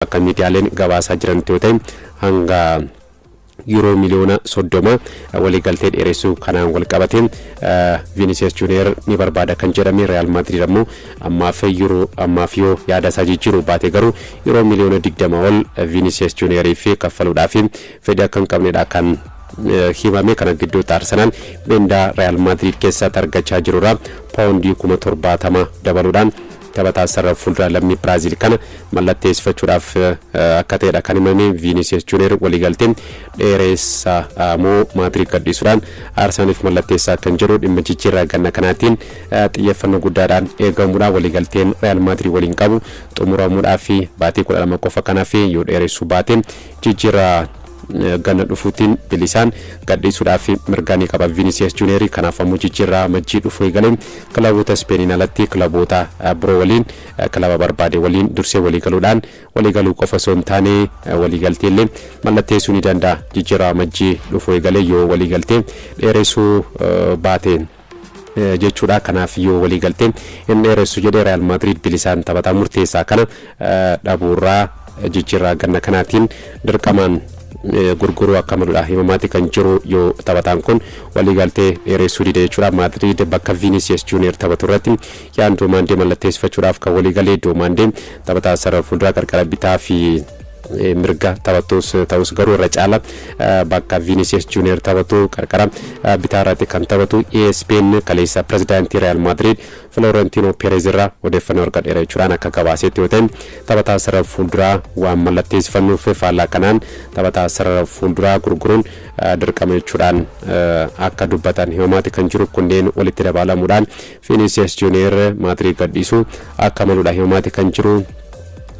Akka miidiyaaleen gabaasaa jiranitti yoo ta'e hanga Yuuroo miliyoona 30 waliigaltee dheeressuu kanaan wal qabatee Viinisiyees Juuniyeer ni barbaada kan jedhame Riyaal Maadriid ammoo ammaaf Yuuroo ammaaf yoo yaada isaa jijjiiruu baate garuu Yuuroo miliyoona 20 ol Viinisiyees Juuniyeeriif kaffaluudhaaf fedhii akka hin qabnedha kan himame kana gidduutti Arsenaal mindaa Riyaal Maadriid keessatti argachaa jirurraa paawundii kuma 70 dabaluudhaan Taphataa sarara fuulduraa lammii Biraaziil kana mallatteessifachuudhaaf akka ta'edha kan himame Viiniisiyas Juuniyer waliigaltee dheereessa moo Maadriid gadhiisuudhaan Arsenaaliif mallatteessaa kan jedhu dhimma jijjiirraa ganna kanaatiin xiyyeeffannoo guddaadhaan eegamudha. Waliigalteen Real Maadriid waliin qabu xumuramuudhaaf baatii 12 qofa kanaaf yoo dheeressuu baate jijjiirraa ganna dhufuutiin bilisaan gadhiisuudhaaf mirgaa ni qaba Vinicius Junior kanaaf ammoo jijjiirraa majjii dhufuu eegalee kilaboota Ispeeniin alatti kilaboota biroo waliin kilaba barbaade waliin dursee waliigaluudhaan waliigaluu qofa osoo hin taane waliigaltee illee mallatteessuu ni danda'a jijjiirraa majjii dhufuu eegalee yoo waliigaltee dheeressuu baate. jechuudha. Kanaaf yoo waliigaltee hin dheeressu jedhe Real Madrid bilisaan taphataa murteessaa kana dhabuurraa jijjiirraa ganna kanaatiin dirqamaan gurguruu akka maludha himamaati kan jiru yoo taphataan kun waliigaltee dheeressuu dide jechuudha. Madrid bakka Vinicius Junior taphatu irratti yaan Doomaandee mallatteessifachuudhaaf kan waliigalee Doomaandee taphataa sarara fuulduraa qarqara bitaa fi mirga taphattuus ta'us garuu irra caala bakka Vinicius Junior taphatu qarqara bitaa irratti kan taphatu ESPN kaleessa pirezidaantii Real Madrid Florentino Perez irraa odeeffannoo argadheera jechuudhaan akka gabaasetti yoo ta'e taphataa sarara fuulduraa waan mallatteessifannuuf faallaa kanaan taphataa sarara fuulduraa gurguruun dirqama jechuudhaan akka dubbatan himamaati kan jiru kunneen walitti dabaalamuudhaan Vinicius Junior Madrid gadhiisuu akka maludha himamaati kan jiru.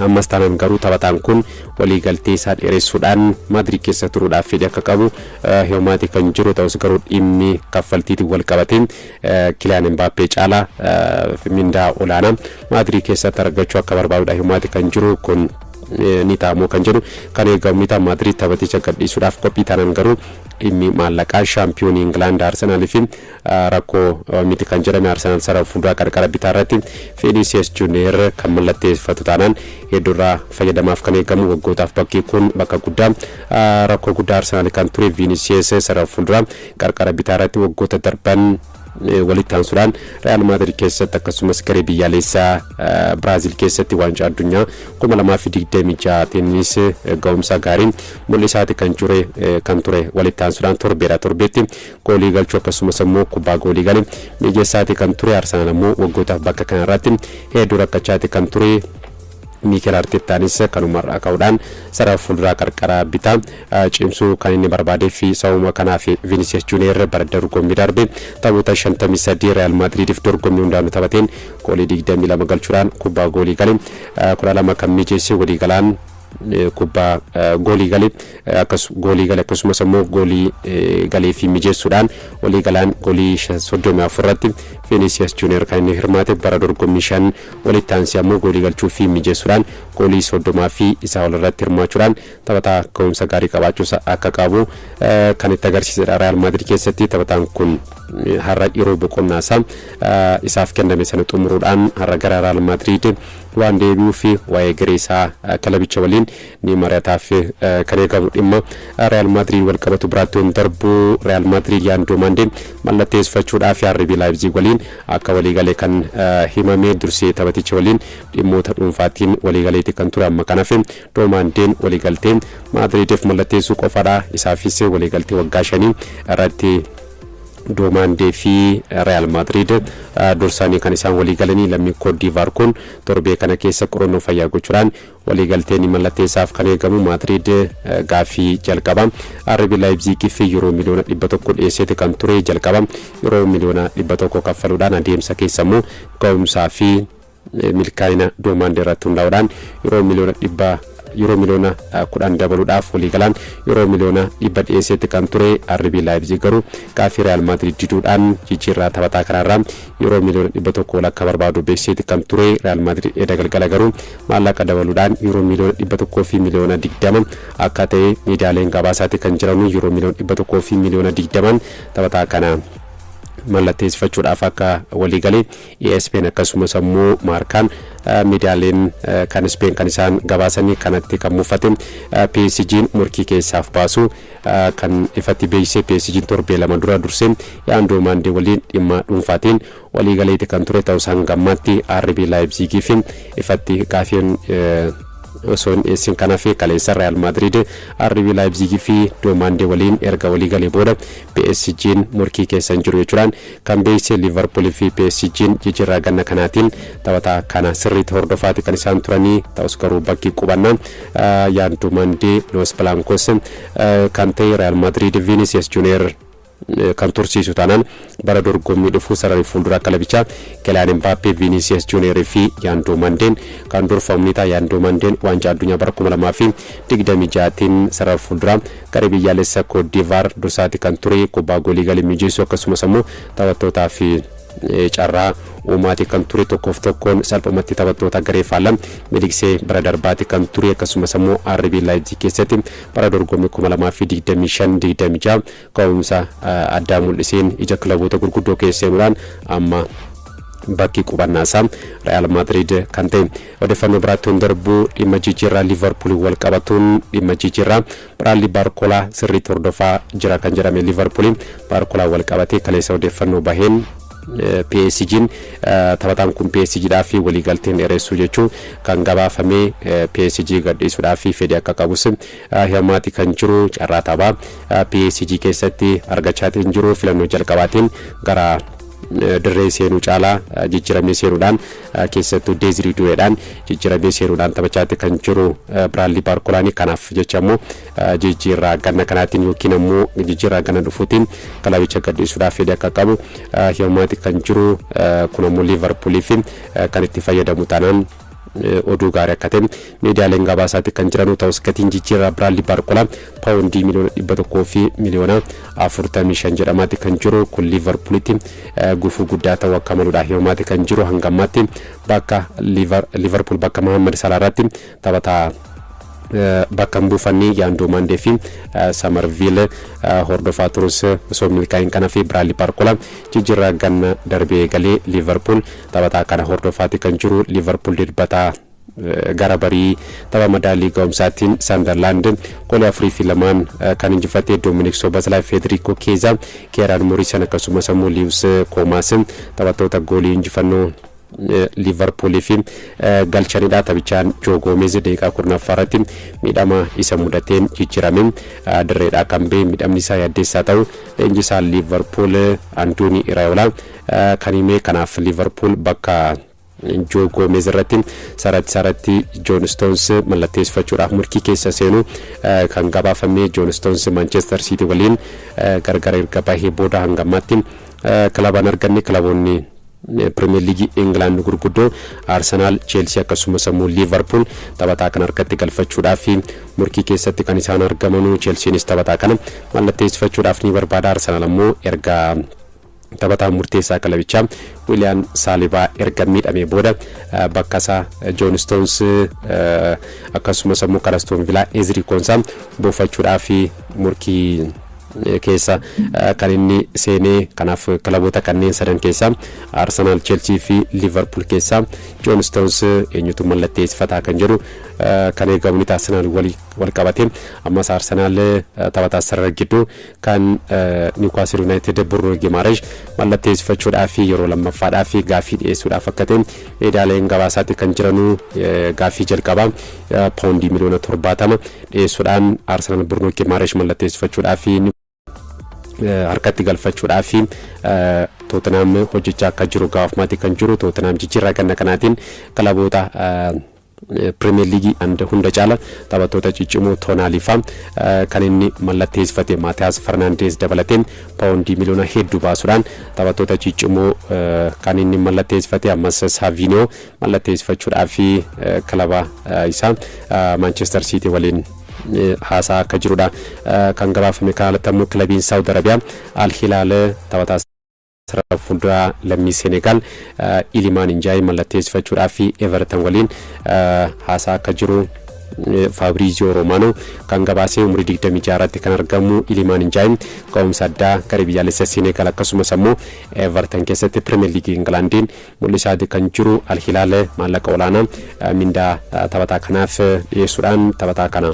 Ammas taanaan garuu taphataan kun waliigaltee isaa dheeressuudhaan Madrid keessa turuudhaaf fedhii akka qabu himamaati kan jiru ta'us garuu dhimmi kaffaltiitiin wal qabate Kiliyaan Mbaappee caalaa mindaa olaanaa Madrid keessatti argachuu akka barbaadudha himamaati kan jiru kun ni ta'amoo kan jedhu kan eegamu ni ta'a Madrid taphaticha gadhiisuudhaaf qophii taanaan garuu dhimmi maallaqaa shaampiyoonii Ingilaand Arsenaalii fi Rakkoo miti kan jedhame Arsenaal sarara fuulduraa qarqara bitaa irratti Fiiniisiyes Juuniyeer kan mallatteeffatu taanaan hedduurraa fayyadamaaf kan eegamu waggootaaf bakki kun bakka guddaa rakkoo guddaa Arsenaal kan ture Viiniisiyes sarara fuulduraa qarqara bitaa irratti waggoota darban walitti aansuudhaan Real Madrid keessatti akkasumas garee biyyaalessaa Biraazil keessatti waancaa addunyaa 2026 tennis ga'umsa gaariin mul'isaati kan ture kan ture walitti aansuudhaan torbeera torbeetti goolii galchuu akkasumas ammoo kubbaa goolii gale mijeessaati kan ture Arsenaal ammoo waggootaaf bakka kanarratti hedduu rakkachaati kan ture Miikeel Arteettaanis kanumarraa ka'uudhaan sarara fuulduraa qarqara bitaa cimsuu kan inni barbaadee fi sababuma kanaaf Vinicius Junior bara dorgommii darbe taphoota 53 Real Madridiif dorgommii hundaanuu taphateen goolii 22 galchuudhaan kubbaa goolii gale 12 kan mijeesse waliigalaan kubbaa goolii gale akkas goolii gale akkasumas ammoo goolii galee fi mijeessuudhaan walii galaan goolii 34 irratti Vinicius Junior kan inni hirmaate bara dorgommii shan walitti aansee ammoo goolii galchuu fi mijeessuudhaan goolii 30 fi isaa ol irratti hirmaachuudhaan taphataa ka'umsa gaarii qabaachuus akka qabu kan itti agarsiisedha Real Madrid keessatti taphataan kun har'a yeroo boqonnaa isaa isaaf kenname sana xumuruudhaan har'a gara Real Madrid waan deebi'uuf waa'ee garee isaa kilabicha waliin ni mari'ataaf kan eegamu dhimma Riyaal Maadriid wal qabatu biraatti yoon darbu Riyaal Maadriid Yaandoo Maandee mallatteessifachuudhaaf RB Laayipziig waliin akka waliigale kan himame dursee taphaticha waliin dhimmoota dhuunfaatiin waliigaleeti kan ture amma kan hafe Doomaandeen waliigaltee Maadriidiif mallatteessuu qofadha isaafis waliigaltee waggaa shanii irratti Doomandee fi Riyaal Maadriid dursaanii kan isaan walii galanii lammiin Koot Diivaar kun torbee kana keessa qorannoo fayyaa gochuudhaan waliigaltee ni mallatteessaaf kan eegamu Maadriid gaaffii jalqaba RB Laayipziigiif Yuroo miliyoona 100 dhiyeesseeti kan ture jalqaba Yuroo miliyoona 100 kaffaluudhaan adeemsa keessa immoo ga'umsaa fi milkaa'ina doomaandii irratti hundaa'uudhaan yeroo miliyoona dhibba yeroo miliyoona kudhan dabaluudhaaf waliigalaan yeroo miliyoona dhibba dhiyeesseetti kan ture RB Laayipzig garuu gaaffii Riyaal Maadriid diduudhaan jijjiirraa taphataa kanaarraa yeroo miliyoona dhibba tokko walakkaa barbaadu beeksiseetti kan ture Riyaal Maadriid edda galgala garuu maallaqa dabaluudhaan yeroo miliyoona dhibba tokkoo fi miliyoona digdama akka ta'e miidiyaaleen gabaasaatii kan jiranu yeroo miliyoona dhibba tokkoo fi miliyoona digdamaan taphataa kana mallatteessifachuudhaaf akka waliigalee Espeen akkasumas ammoo Maarkaan miidiyaaleen kan Espeen kan isaan gabaasanii kanatti kan muffate PSG'n morkii keessaaf baasu kan ifatti beeksise PSG'n torbee lama dura dursee Yaandoo Maandee waliin dhimma dhuunfaatiin waliigaleeti kan ture ta'us hanga ammaatti RB Laayipziigii fi ifatti gaafiin osoo hin dhiyeessin kanaa fi kaleessa Real Madrid RB Leipzig fi Doomaandee waliin erga walii galee booda PSG'n morkii keessa hin jiru jechuudhaan Kan beeyse Liivarpuul fi PSGn jijirraa ganna kanaatiin taphataa kana sirriiti hordofaati kan isaan turanii ta'us garuu bakki qubanna Yaandu Mandee Loos Blaankoos kan ta'e Real Madrid Vinicius Junior kan tursiisu taanaan bara dorgommii dhufu sararri fuulduraa kilabichaa Kilaan Mbaappee Vinicius Junior fi Yaandu Mandeen kan durfamu ni ta'a Yaandu Mandeen waancaa addunyaa bara 2026tiin sarara fuulduraa Garee biyyaalessa Kootdiivaar dursaati kan ture kubbaa goolii galii mijeessuu akkasumas ammoo taphattootaa fi carraa uumaati kan ture tokkoof tokkoon salphumatti taphattoota garee faallaa miliqsee bara darbaati kan ture akkasumas ammoo RB Laayipzig keessatti bara dorgommii 2025-26 ka'umsa addaa mul'iseen ija kilaboota gurguddoo keessa seenuudhaan amma bakki qubannaa isaa Real Madrid kan ta'e Odeeffannoo biraatti yoon darbu dhimma jijjiirraa Liivarpuuliin wal qabatuun dhimma jijjiirraa Biraadlii Baarkolaa sirriitti hordofaa jira kan jedhame Liivarpuuliin Baarkolaan wal qabatee kaleessa odeeffannoo baheen PSG'n taphataan kun PSGdhaaf waliigalteen dheeressuu jechuun kan gabaafame PSG gadhiisuudhaaf fedhii akka qabus himamaati kan jiru carraa taphaa PSG keessatti argachaatiin jiru filannoo jalqabaatiin gara dirree seenuu caalaa jijjiiramee seenuudhaan keessattuu Deezirii Duweedhaan jijjiiramee seenuudhaan taphachaatti kan jiru Biraadlii Baarkolaanii kanaaf jecha immoo jijjiirraa ganna kanaatiin yookiin ammoo jijjiirraa ganna dhufuutiin kilabicha gadhiisuudhaaf fedhii akka qabu himaati kan jiru kun ammoo Liivarpuulii fi kan itti fayyadamu taanaan oduu gaarii akka ta'e Miidiyaaleen gabaasaati kan jiranuu ta'us gatiin jijjiirraa Biraadlii Baarkolaa paawundii miliyoona dhibba tokkoo fi miliyoona afurtamii shan jedhamaati kan jiru kun Liivarpuulitti gufuu guddaa ta'uu akka maluudha himamaati kan jiru hanga ammaatti bakka Liivarpuul bakka Mahammad Salaa irratti taphataa bakka hin buufanne yaandoo maandee fi samarviil hordofaa turus osoo milkaa'in kana fi biraadlii baarkolaa jijjiirraa ganna darbee galee liivarpuul taphataa kana hordofaati kan jiru liivarpuul dirbataa Gara barii tapha madaallii ga'umsaatiin Sandarlaand goolii 4 fi 2n kan injifate Dominik Sobaslaay, Feederiikoo Keezaa, Keeraan Morisan akkasumas ammoo Liiwus Koomaas taphattoota goolii injifannoo Liivarpuuliif galchanidha. Taphichaan Joo Goomeez daqiiqaa 10ffaa irratti miidhama isa mudateen jijjiirame dirreedhaa kan ba'e miidhamni isaa yaaddeessaa ta'u leenjisaa Liivarpuul Andoonii Iraayoolaa kan hime kanaaf Liivarpuul bakka Joo Goomeez irratti saratti saratti Joon Stoons mallatteessifachuudhaaf morkii keessa seenu kan gabaafame Joon Stoons Maanchestar Siitii waliin gargar erga bahee booda hanga ammaatti kilaba hin arganne kilaboonni Pirimeer Liigii Ingilaand gurguddoo Arsenaal, Cheelsii akkasumas ammoo Liivarpuul taphataa kana harkatti galfachuudhaaf morkii keessatti kan isaan argamanu Cheelsiinis taphataa kana mallatteessifachuudhaaf ni barbaada Arsenaal ammoo erga Taphataan murteessaa kilabichaa Wiiliyaan Saalibaa erga miidhamee booda bakkasaa Joon Istoons akkasumas ammoo kan Astoon Vilaa Ezrii Koonsaa buufachuudhaaf morkii keessa kan inni seenee kanaaf kilaboota kanneen sadan keessaa Arsenaal, Cheelsii fi Liivarpuul keessaa Joon Istoons eenyutu mallatteessifataa kan jedhu kan eegamu ni ta'a Arsenaal wal qabatee ammas Arsenaal taphataa sarara gidduu Kan Niwukaasel Yuunaayitid Burno Gimaaresh mallatteessifachuudhaaf yeroo lammaffaadhaaf gaaffii dhiyeessuudhaaf akka ta'e miidiyaaleen gabaasaatti kan jiranu gaaffii jalqabaa paawundii miliyoona torbaatama dhiyeessuudhaan Arsenaal Burno Gimaaresh mallatteessifachuudhaaf harkatti galfachuudhaaf Tootenaam hojjechaa akka jiru gaafmaatti kan jiru Tootenaam jijjiirraa ganna kanaatiin kilaboota Premier League and hunda caala taphattoota ciccimoo Tonali faa kan inni mallatteessifate Maatiyaas Fernandes dabalatee paawondii miliyoona heddu baasudhaan taphattoota ciccimoo kan inni mallatteessifate ammas Savinio mallatteessifachuudhaa fi kilaba isaa Manchester City waliin haasaa akka jirudha kan gabaafame kan alattammoo kilabiin Saawud Arabiyaa Al Hilaal taphataa Sarara fuulduraa lammii Seenegaal Ilimaan Injaayi mallatteessifachuudhaaf Evertan waliin haasaa akka jiru Faabriiziyoo Roomaanoo kan gabaasee umurii 26 irratti kan argamu Ilimaan Injaayi ga'umsa addaa garee biyyaalessa Seenegaal akkasumas ammoo Evertan keessatti Pirimeer Liigii Ingilaandiin mul'isaati kan jiru Al Hilaal maallaqa olaanaa mindaa taphataa kanaaf dhiyeessuudhaan taphataa kana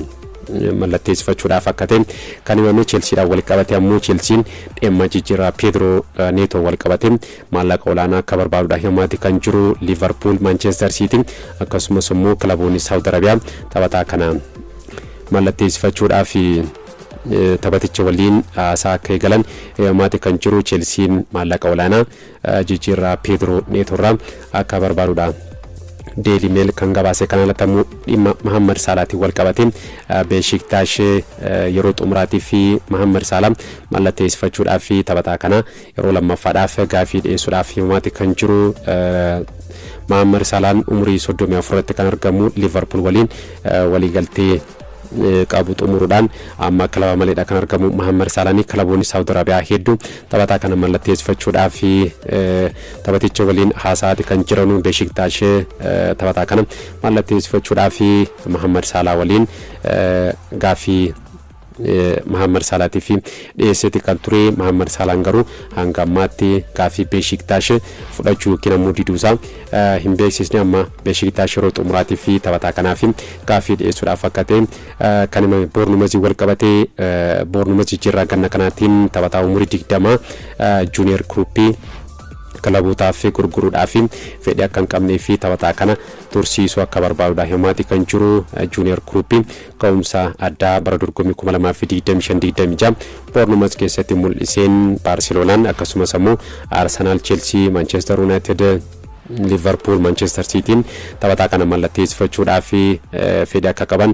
mallatteessifachuudhaaf akka ta'e kan himame Cheelsiidhaan walqabate ammoo Cheelsiin dhimma jijjiirraa Peedroo Neetoo walqabate maallaqa olaanaa akka barbaadudha himaati kan jiru Liivarpuul Maanchestar Siitii akkasumas immoo kilaboonni Saawud Arabiyaa taphataa kana mallatteessifachuudhaaf taphaticha waliin haasaa akka eegalan himaati kan jiru Cheelsiin maallaqa olaanaa jijjiirraa Peedroo Neetoo irraa akka barbaadudha. Deeli Meel kan gabaase kan alatti ammoo dhimma Mahammad Saalaatiin wal qabate Beeshiktash yeroo xumuraatii fi Mahammad Saalaa mallatteessifachuudhaa fi taphataa kana yeroo lammaffaadhaaf gaafii dhiyeessuudhaaf himaati kan jiru Mahammad Saalaan umurii 34 irratti kan argamu Liverpool waliin waliigaltee qabu xumuruudhaan amma kilaba maleedha kan argamu Mahammad Saalaanii kilaboonni Saawud Arabiyaa hedduu Taphataa kana mallatteessifachuudhaaf taphaticha waliin haasa'aati kan jiranu Beeshiktaash taphataa kana mallatteessifachuudhaaf Mahammad Saalaa waliin gaaffii Mahammad Saalaatiif dhiyeesseeti kan ture Mahammad Saalaan garuu hanga ammaatti gaaffii Beeshiktaash fudhachuu yookiin ammoo diduusaa hin beeksisne amma Beeshiktaash yeroo xumuraatiif taphataa kanaaf gaaffii dhiyeessuudhaaf akka ta'e Kan himame Boornumaziin walqabatee Boornumaz jijjiirraa ganna kanaatiin taphataa umurii 20 Juuniyer Kiruuppii kilabootaaf gurguruudhaaf fedhii akka hin qabnee fi taphataa kana tursiisuu akka barbaadudha himaati kan jiru Juuniyer Kiruuppii ka'umsa addaa bara dorgommii 2025-26 Boornumaz keessatti mul'iseen Baarseloonaan akkasumas ammoo Arsenaal, Cheelsii, Maanchestar Yuunaayitid Liivarpuul Maanchester Siitiin taphataa kana mallatteessifachuudhaaf fedhii akka qaban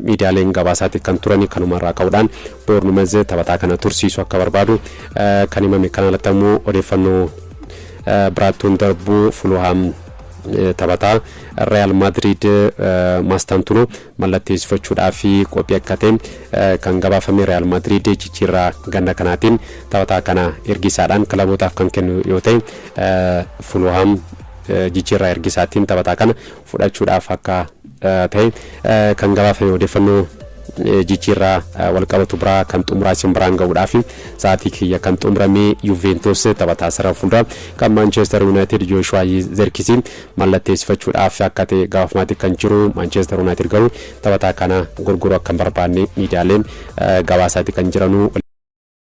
miidiyaaleen gabaasaatii kan turani kanumarraa ka'uudhaan Boornumez taphataa kana tursiisuu akka barbaadu kan himame kan alatti ammoo odeeffannoo biraattuun darbuu Fuluhaam taphataa Real Madrid Mastantuno mallatteessifachuudhaaf qophii akka ta'e kan gabaafame Riyaal Maadriid jijjiirraa ganna kanaatiin taphataa kana ergisaadhaan kilabootaaf kan kennu yoo ta'e Fulhaam jijjiirraa ergisaatiin taphataa kana fudhachuudhaaf akka ta'e kan gabaafame odeeffannoo jijjiirraa walqabatu biraa kan xumuraa isin biraan ga'uudhaaf sa'aatii kiyya kan xumuramee Yuventus taphataa sarara fuulduraa kan Maanchester Yuunaayitid Jooshuwaa Zerkisii mallatteessifachuudhaaf akka ta'e gabaafamaa kan jiru Maanchester Yuunaayitid garuu taphataa kana gurguruu akka hin barbaanne miidiyaaleen gabaasaa kan jiranuu.